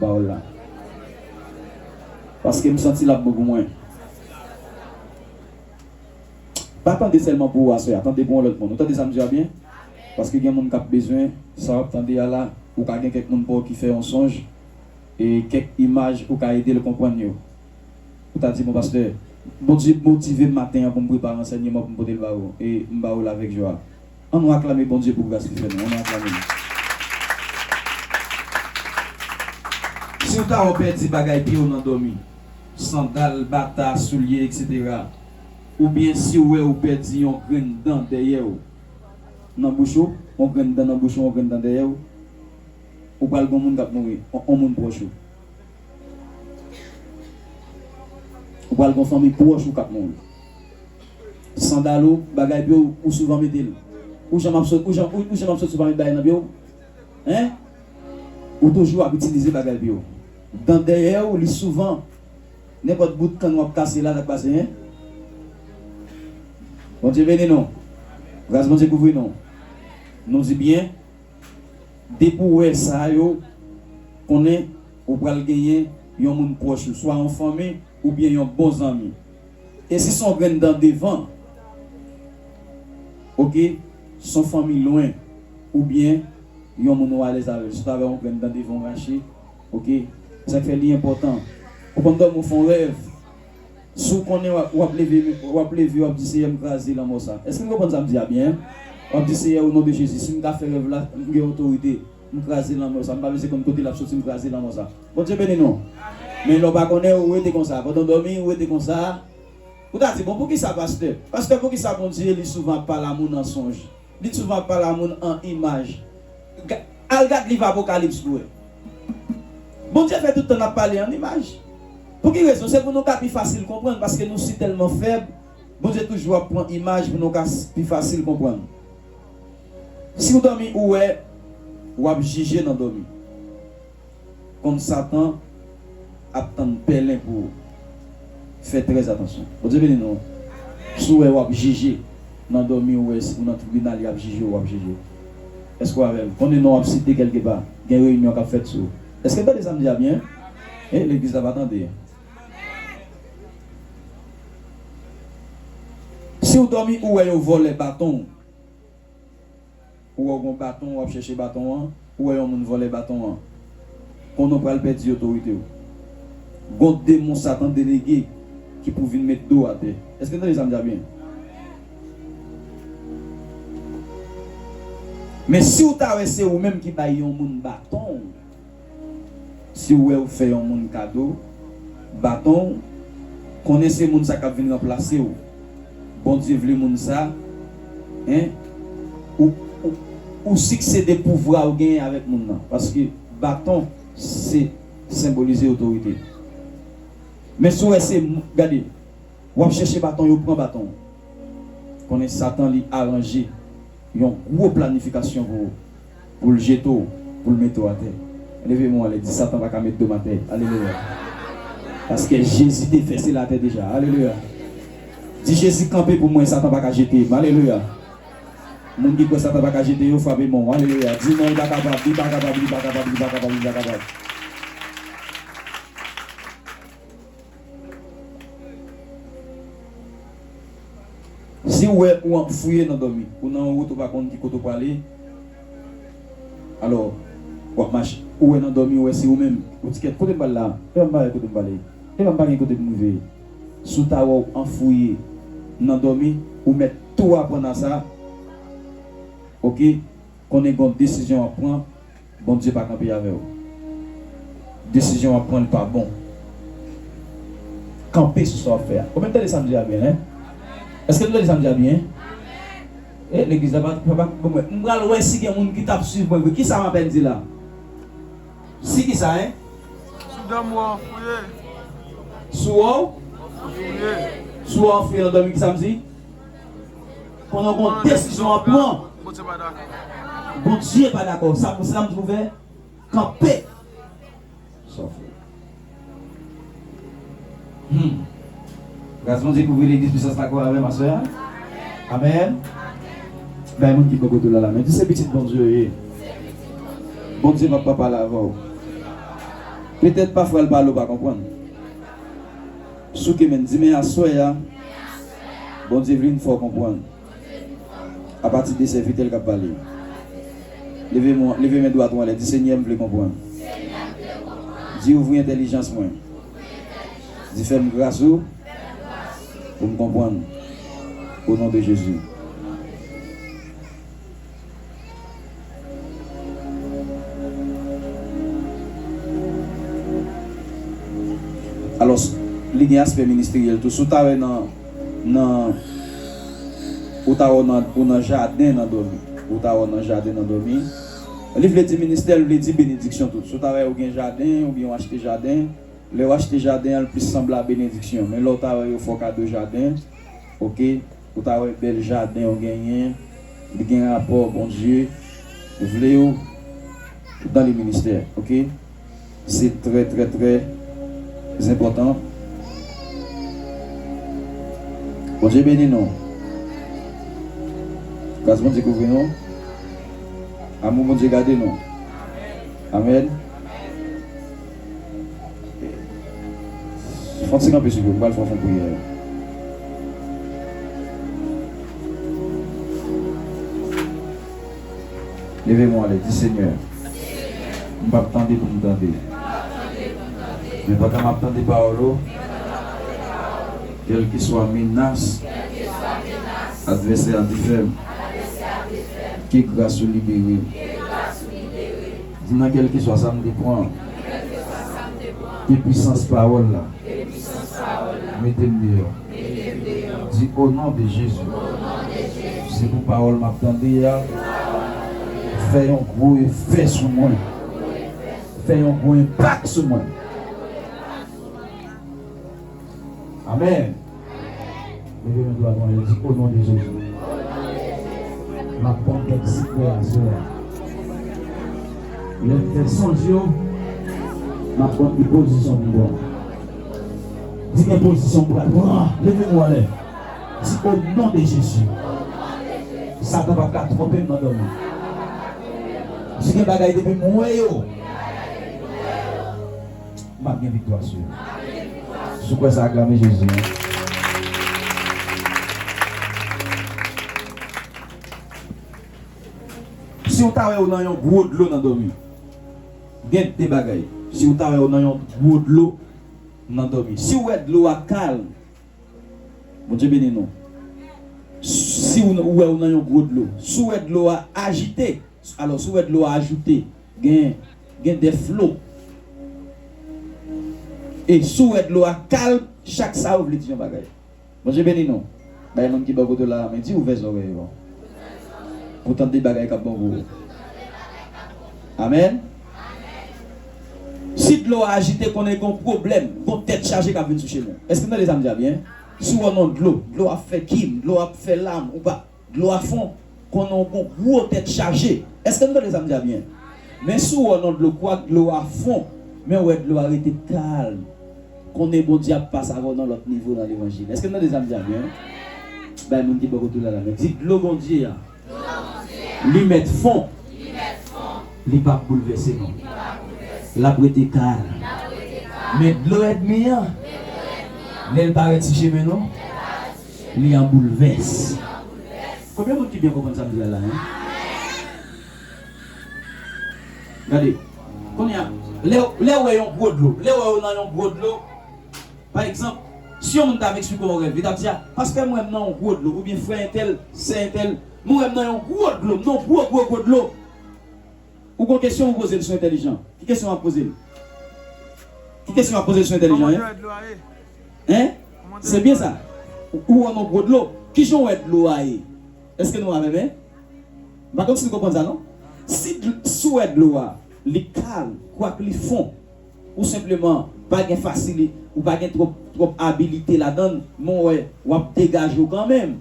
Baw la. Paske m santi lap bon pou mwen. Pa tande sèlman pou ou aswè a, tande pou yon lòt moun. Ou tande sa m di a byen? Paske gen moun kap bezwen sa wap tande a la. Ou ka gen kèk moun paw ki fè yon sonj e kèk imaj ou ka edel konprann yo. Ou ta di bon pastè, Bondye motivem maten an poum prepare ansènyeman poum potel ba ou e m ba ou l avèk jwa. An nou aklame Bondye pou gras li fè nou. An nou aklame li. Si ou ta wè w pèdi bagay pye w nan dòmi, sandal, bata, soulye, etc. Oubyen si ou wè ou pèdi yon grenn dan dèyè w nan bouch ou, yon grenn dan nan bouch ou, yon grenn dan dèyè w, ou pral gen yon moun k ap mouri, yon moun pwòch ou. Ou pral gen yon fanmi pwòch ou k ap mouri. Sandal ou, bagay pye w, ou souvan mete l. Ou janm ap sot, ou janm, ou janm ap sot si w pa met bagay nan pye w? Hein? Ou toujou ap itilize bagay pye w. Dan dèyè w, li souvan. Nenpòt bout kann w ap kase la, sa k pase, hein? Bondye beni nou. Gras Bondye kouvri nou. Nou di byen, depi w wè sa yo, konnen ou pral genyen yon moun pwòch ou, swa yon fanmi oubyen yon bon zanmi. E si son grenn dan devan ok son fanmi lwen ou byen yon moun ou alèz avèl si w ta wè yon grenn dan devan w rache ok e sak fè li enpòtan ou konn dòmi w fè yon rèv si w konnen w ap leve w ap leve w ap di seyè m kraze lanmò sa èske n konprann sa m di a byen w ap di seyè o non de jezi si m ka fè rèv la m gen otorite M kraze lanmò sa m pa vle se konn kote lap soti m kraze lanmò sa Bondye beni nou men lè w pa konnen ou rete konsa pandan w dòmi ou rete konsa ou ta di bon poukisa pastè pastè poukisa Bondye li souvan ap pale a moun an sonj li souvan ap pale a moun an imaj al gad liv apokalips pou wè Bondye fè tout tan lap pale an imaj pou ki rezon se pou nou ka pi fasil konprann paske nou si tèlman fèb Bondye toujou ap pran imaj pou nou ka pi fasil konprann. Siw domi ou wè wap jije nan domi konn satan ap tann pèlen pou ou fè trè atansyon Bondye beni nou si w wè wap jije nan domi ou wè ou nan tribinal yap jije ou wap jije eske ou avèm konnen non ap site kelke pa gen reyinyon kap fèt sou eske n tande sam di a byen eh legliz la pa tande. Siw domi ou wè yo vòlè batonw. Ou wè ou gon baton wap chèche baton an ou wè yon moun vòlè baton an konnen ou pral pèdi otoritew gon demon satan delege ki pou vin met dow atè èske n tande sa m di a byen men siw ta wè se ou menm ki bay yon moun baton Si w wè ou fè yon moun kado baton w, konnen se moun sa k ap vin ranplase w. Bondye vle moun sa en ou ou siksede pouvwa ou genyen avèk moun nan, paske baton se senbolize otorite. Men si w wè se moun, gade, w ap chèche baton yo pran baton w, konnen Satan li aranje yon gwo planifikasyon pou ou. Pou l jete w, pou l mete w atè. Leve men w anlè, di, Satan pa ka met do m atè. Alelouya! Paske Jezi te fè sela atè deja. Alelouya! Di, Jezi kanpe pou mwen, Satan pa ka jete m. Alelouya! Moun ki kwè Satan pa ka jete yo, frape men w. Alelouya! Di, Non, li pa kapab, li pa kapab, li pa kapab, li pa kapab, li pa kapab. Si ou wè ou ap fouye nan dòmi, ou nan yon wout ou pa konn ki kote ou prale, alò ou ap mache, ou wè nan dòmi ou wè se ou menm, ou di kèt kote m pral la, epa m pa wè kote m prale, epa m pa gen kote pou m rive, si w ta wè w an fouye nan dòmi, ou mèt tou aprann a sa, ok, konnen gon desizyon w ap pran. Bondye pa kanpe avèw desizyon wap pran li pa bon kanpe sou sa wap fè a konbyen nou tande sam di a byen hein eske nou tande sam di a byen eh legliz la pa pa pou mwen m pral wè si gen moun ki tap swiv mwen vre kisa m apèn di la si kisa hein sou dòmi wè w fouye sou wè w fouye nan dòmi kisam di. Pandan gon desizyon ap pran, Bondye pa dakò. Sa pou sa m twouve kanpe sòf li. Humm gras Bondye kouvri legliz pwisans la gou avèm aswè a amen bay moun ki bò kote w la lamen di se pitit Bondye w ye Bondye map pa pale avèw petèt pafwa l pale w pa konprann. Souke menn di men aswè a Bondye vle n fè w konprann Apati de sèvitè l k ap pale yo Leve men w leve men dwat ou anlè di Senyè m vle konprann Di ouvri entèlijans mwen Di fè m gras ou pou m konprann O non de Jezi. Alòs, li gen aspè ministeryèl tou. Si w ta wè nan, nan, ou ta wè w nan, ou nan jaden nan dòmi. Ou ta wè w nan jaden nan dòmi. Li vle di ministè, l vle di benediksyon tou. Si w ta wè ou gen jaden, oubyen w achte jaden, lè w achte jaden an, l plis sanble a benediksyon. Men lè w ta wè yo fè w kado jaden, oke. Ou ta wè bèl jaden ou genyen li gen rapò Bondye vlew dan le ministè ok se trè trè trè zenpòtan Bondye beni nou gras Bondye kouvri nou amou Bondye gade nou amen. Fon ti kanpe souple m pral fon fon priyè. Leve men w anlè di Senyè m pap tande pou m tande men pandan map tande pawòl ou kèlkeswa menas advèsè a te fè m ke gras ou libere m. Di nan kèlkeswa sa m te pran. Ke pwisans pawòl la. Mete m deyò. Di o non de Jezi. Se pou pawòl m ap tande a. Fè yon gwo efè sou mwen. Fè yon gwo enpak sou mwen. Amen. Leve men dwat ou anlè di o non de Jezi. Map pran kèk sikrè a sè a. Lèm fè sonj yo map konn ki pozisyon m pran. Di gen pozisyon m pral pran. Leve men ou anlè. Di o non de Jezi. Satan pap ka twonpe m nan dòmi. Si gen bagay depi m wè yo. m ap gen viktwa sou yo. Si w kwè sa, aklame Jezi an. Si w ta wè w nan yon gwo dlo nan dòmi, gen de bagay. Si w ta wè w nan yon gwo dlo nan dòmi, si w wè dlo a kalm, Bondye beni nou. Si w wè w nan yon gwo dlo, si w wè dlo a ajite. Alò si w wè dlo a ajoute gen gen de flo e si w wè dlo a kalm chak sa yo vle di yon bagay. Bondye beni nou. Bay moun ki bò kote w la a men, di ouvè zòrèy ou pou w tande bagay k ap bon pou ou. Amèn. Si dlo a ajite konnen gen yon pwoblèm, gen yon tèt chaje k ap vin sou cheme w. Èske n tande sa m di a byen? Si w wè yon dlo, dlo a ap fè kim, dlo a ap fè lam ou pa. Dlo a fon, konnen w gon gwo tèt chaje. Eske nou tande sa m di a byen? Men si w wè w nan dlo kwak dlo a fon, men w wè dlo a rete kalm, konnen Bondye ap pase avè w nan lòt nivo nan levanjil. Eske nou tande sa m di a byen? Bay moun ki bò kote w la la men. Di, Dlo Bondye a, li mèt fon, li pap boulvèse non. L ap rete kalm. Men dlo èdmi an, lè l parèt si chemen nou, Li an boulvès. Konbyen moun ki byen konprann sa m di la la hein? Gade, kounye a, lè w, lè w wè yon gwo dlo, lè w wè w nan yon gwo dlo, pa egzanp, si yon moun ta ap eksplike w yon rèv, li t ap di a, pastè m wè m nan yon gwo dlo, oubyen frè entèl, sè entèl, mwen wè m nan yon gwo dlo, m nan yon gwo gwo gwo dlo. Ou gon kesyon ou pozel sou entelijan ki kesyon wap pozel ki kesyon wap pozel sou entelijan hein hein se byen sa ou wè yon gwo dlo kijan ou wè dlo a ye eske nou avèm hein m pa konn si nou konprann sa non si si ou wè dlo a li kal kwak li fon ou senpleman pa gen fasili ou pa gen twòp twòp abilite ladann men ou wè wap degaje w kanmenm.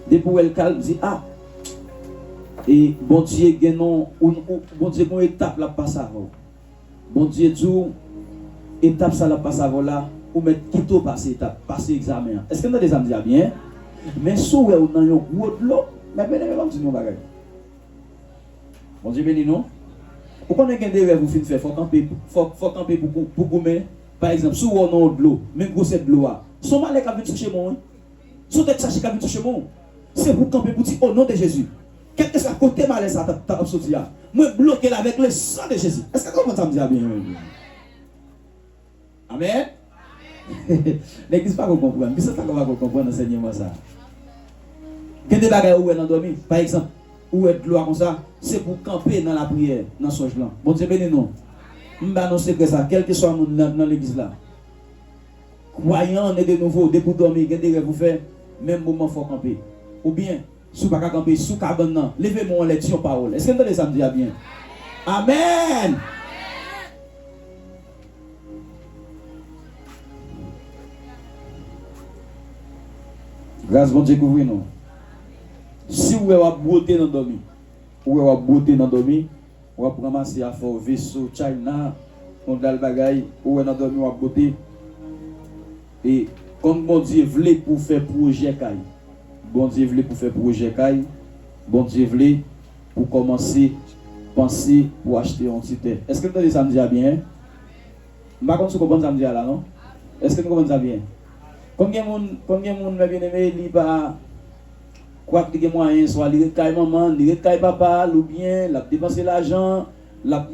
Depi ou wèl kalm di ah e bondye gen non ou bondye gon etap lap pase avèw bondye diw etap sa lap pase avèw la ou mèt kite ou pase etap pase egzamen an eskem tande sam di a byen men sou wè ou nan yon gwo dlo mè byen eme banm di nou yon bagay bondye beni nou ou konnen gen de rèv ou fin fè fò kanpe fò kanpe pou goumen pa egzanp si ou wè ou nan yon dlo men gwosè dlo a son malè kap vin sou chemèw wi. Si w tèt chaje kap vin sou chemen w, se pou w kanpe pou w di, O non de Jezi, kèlkeswa kote malè sa a ta ap soti a, mwen bloke l avèk le san de Jezi. Èske n konprann sa m di a byen? Amèn! Legliz pa ko konprann. Bisòs pa ko pa ko konprann ansènyeman sa a. Gen de bagay ou wè nan dòmi. Pa egzanp, ou wè dlo a konsa, se pou w kanpe nan lapriyè, nan sonj lan. Bondye beni nou. M ba nou sekrè sa a, kèlkeswa moun nan legliz la. Kwayan ne de nouvo depi w dòmi gen de rèv ou fè menm moman fò w kanpe oubyen si w pa ka kanpe sou kabann nan leve men w anlè di yon pawòl èske n tande sa m di a byen amèn gras Bondye kouvri nou si w wè w ap bwote nan dòmi ou wè w ap bwote nan dòmi. Wap ranmase afè w veso china yon dal bagay ou wè nan dòmi wap bote e kon bondye vle pou fè projè kay bondye vle pou fè projè kay bondye vle pou kòmanse panse pou achte yon ti tè èske n tande sa m di a byen m pa konn si w konprann sa m di a la non èske n konprann sa byen konn gen moun konn gen moun mè byeneme li pa. Kwak li gen mwayen, swa li ret kay manman l, li ret kay papa l oubyen l ap depanse lajan, l ap,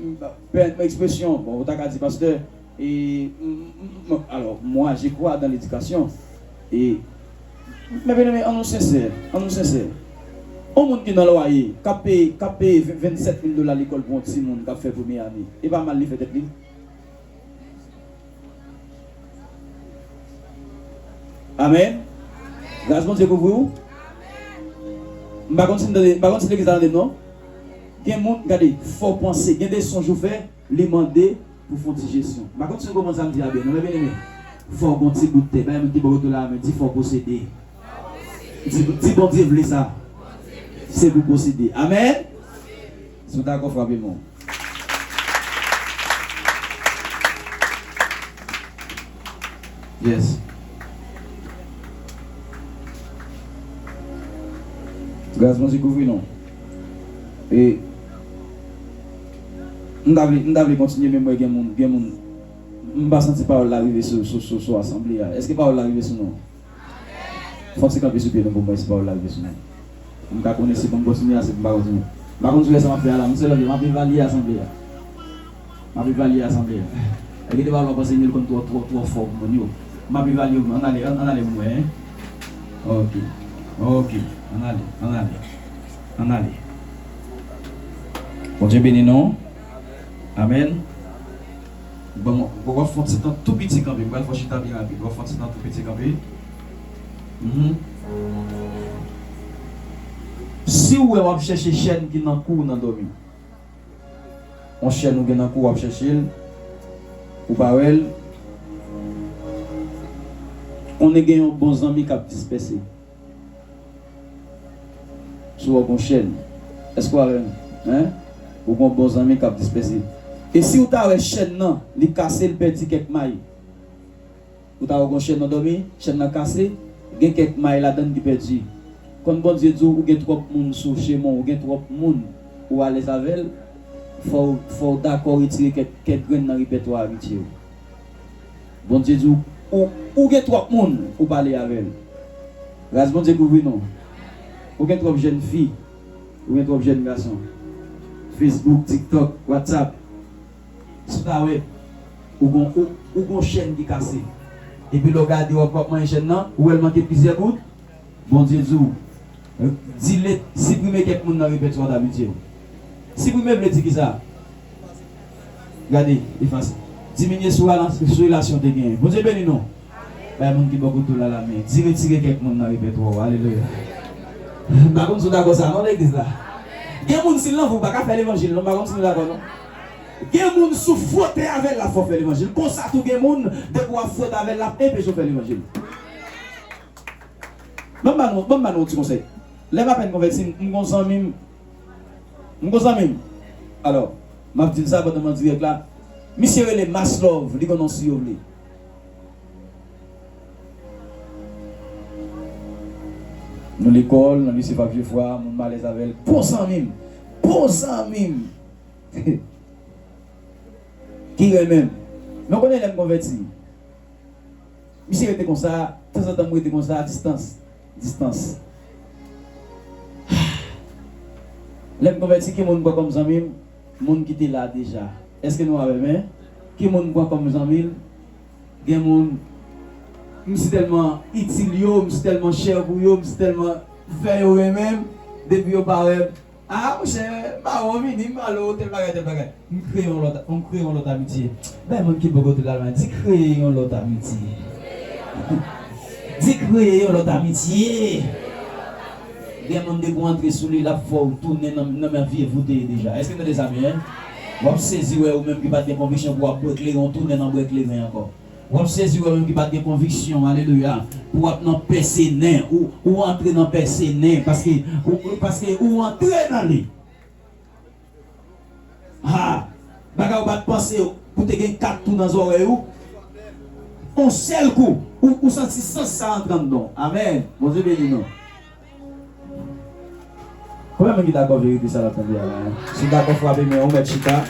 pèmèt mwen ekspresyon, bon ou ta ka di pastè, e, m, alò, mwa je kwa dan ledikasyon, e, mè byeneme an nou sensè, an nou sensè. On moun ki nan lwaye, k ap peye, k ap peye 27 mil dola lekòl pou on timoun k ap fè premye ane, e pa mal li fè tèt li? Amen Gras Bondye kouvri w M pa konn si m tande m pa konn si legliz la tande m non Gen moun gade fò w panse gen de sonj ou fè li mande pou w fè yon ti jesyon M pa konn si nou konprann sa m di a byen non men byeneme fò w gen yon ti bout tè bay moun ki bò kote w la a men di fò w posede Di Bondye vle sa se pou w posede Amen. Si w dakò frape men w. Yes. Gras Bondye kouvri nou. E M ta vle, m ta vle kontinye men m wè gen moun, gen moun. M pa santi pawòl la rive sou, sou, sou asanble a. Èske pawòl la rive sou nou? Fòk se kanpe sou pye nou pou m wè si pawòl la rive sou mwen. Pou m ka konnen si pou m kontinye a si pou m pa kontinye. M pa konn si w wè sa m ap fè a la. M selon je m ap evalye asanble a. M ap evalye asanble a. E gen de pawòl w ap panse Neel konn twò, twò, twò fò pou moun yo. M ap evalye yo pou nou. Ann ale, ann ale pou m wè hein. Oke. Oke. Ann ale. Ann ale. Ann ale. Bondye beni nou. Amèn. Bon, wap fon ti tan tou piti kanpe. Mpral fè w chita byen rapid. Wap fon ti tan tou piti kanpe. Mph. Si w wè wap chèche chèn ki nan kou w nan dòmi. On chèn ou gen nan kou w wap chèche l, ou pa wè l. Konnen gen yon bon zanmi kap dispèse. Si w ak yon chèn, èske w avè m? Hein? Ou gen yon bon zanmi k ap dispèse. E si w ta wè chèn nan, li kase, li pèdi kèk may? Ou ta wè yon chèn nan dòmi, chèn nan kase, gen kèk may ladan l ki pèdi. Kon Bondye di w, ou gen twòp moun sou chemen w, ou gen twòp moun ou alèz avè l, fò w dakò retire kèk grenn nan repètwa amitye w. Bondye di w ou ou gen twòp moun ou pale avè l gras Bondye kouvri nou ou gen twòp jèn fi ou gen twòp jèn gason Facebook tiktok whatsapp sitawèb ou gon ou gon chèn ki kase epi lè w gade wap wap manyen chèn nan ou wè l manke plizyè bout Bondye di w, Delete, siprime kèk moun nan repètwa dabitye w. Siprime vle di kisa? Gade, efase. Diminye sou relasyon w te genyen. Bondye beni nou! Bay moun ki bò kote w la lamen. Di, Retire kèk moun nan repètwa w. Alelouya! M pa konn si w dakò sa non, legliz la. Gen moun si l nan vre w pa ka fè levanjil non. M pa konn si nou dakò non. Gen moun si w fwote avè l la fè w fè levanjil. Konsa tou gen moun depi w ap fwote avè l l ap enpeche w fè levanjil. Ban m ba nou, ban m ba nou yon ti konsèy. Lè m apèn konvèti, m m gon zanmi m, m gon zanmi m, alò, m ap di l sa pandan m an dirèk la, misye rele Maslòv, li gon non si yo vle. Nou lekòl, nan lise Fab Jefwa, moun m alèz avè l, bon zanmi m, bon zanmi m, ki renmen m. Men w konnen lè m konvèti? Misye rete konsa, tanzantan m rete konsa a distans, distans. Ahh. Lè m konvèti ki moun m pran kòm zanmi m? Moun ki te la deja. Èske nou avè m? Ki moun m pran kòm zanmi m? Gen moun m si tèlman itil yo, m si tèlman chè pou yo, m si tèlman fè yo renmen m, depi yo pa wè m, Aa monchè Mawon vini m pale w tèl bagay tèl bagay m kreye yon lòt m kreye yon lòt amitye bay moun ki poko tout al mwen di kreye yon lòt amitye di kreye yon lòt amitye gen moun depi w antre sou li l ap fè w tounen nan menm vye vou w te ye deja èske n tande sa byen w ap sezi wè ou menm ki pa t gen konviksyon pou w ap bwè kleren w tounen nan bwè kleren ankò. Wap sezi wè menm ki pat gen konviksyon alelouya pou wap nan pèse nen ou ou antre nan pèse nen paske ou paske ou antre nan li ha bagay ou pat panse pou te gen 4 tou nan zòrèy ou on sèl kou ou santi sans sa antre anndanw amen Bondye beni nou. Konbyen moun ki dakò verite sa nap tande a la hein? Si w dakò frape men w mèt chita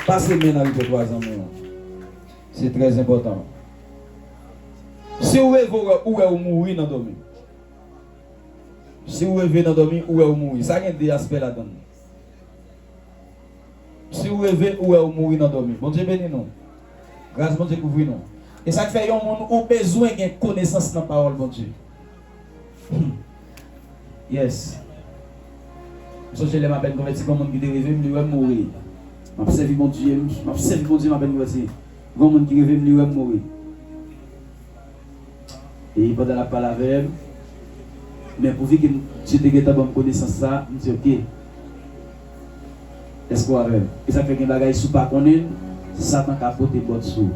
Pase men nan repètwa zanmi w Se trè enpòtan Si w reve w wè ou wè ou mouri nan dòmi Si w reve nan dòmi ou wè ou mouri sa gen 2 aspè ladan l Si w reve ou wè ou mouri nan dòmi Bondye beni nou. Gras Bondye kouvri nou. Esak fè yon moun ou bezwen gen konesans nan pawòl Bondye. Hum yes m sonje lèm apèn konvèti gon moun ki te revem li wèm mouri map sèvi Bondye map sèvi Bondye m apèn konvèti gon moun ki revem li wèm mouri. E pandan l ap pale avè m, men pou fi ke m Dye te gentan ban m konesans sa, m di, Oke, èske w avè m? E sa k fè gen bagay, si w pa konnen l, Satan ka pote bòt sou ou.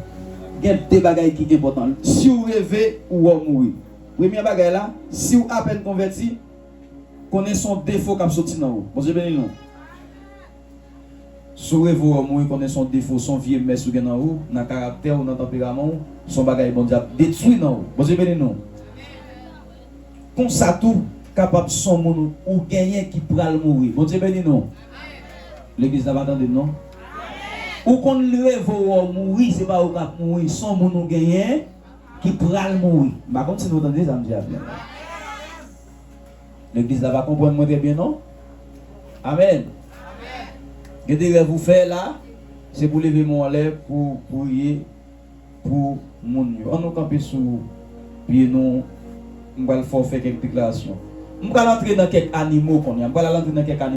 Gen de bagay ki enpòtan. Si w reve ou wè w mouri, premyè bagay la, si w apèn konvèti, konnen se yon defo k ap soti nan ou. Bondye beni nou. Si w reve w ò mouri konnen son defo, son vye mès ou gen nan ou, nan karaktè w, nan tanperaman w, son bagay Bondye ap detwi nan ou. Bondye beni nou. Konsa tou, kapab son moun ou genyen ki pral mouri. Bondye beni nou. Legliz la pa tande m non. Ou konn reve w ò mouri, se pa ou k ap mouri, son moun ou genyen ki pral mouri. M pa konn si nou tande sa m di a byen. Legliz la pa konprann mwen trè byen non. Amen. Gen de rèv ou fè la, se pou leve men w anlè pou w priye pou moun yo. Annou kanpe sou pye nou, m pral fè w fè kèk deklarasyon. M pral antre nan kèk animo kounye a.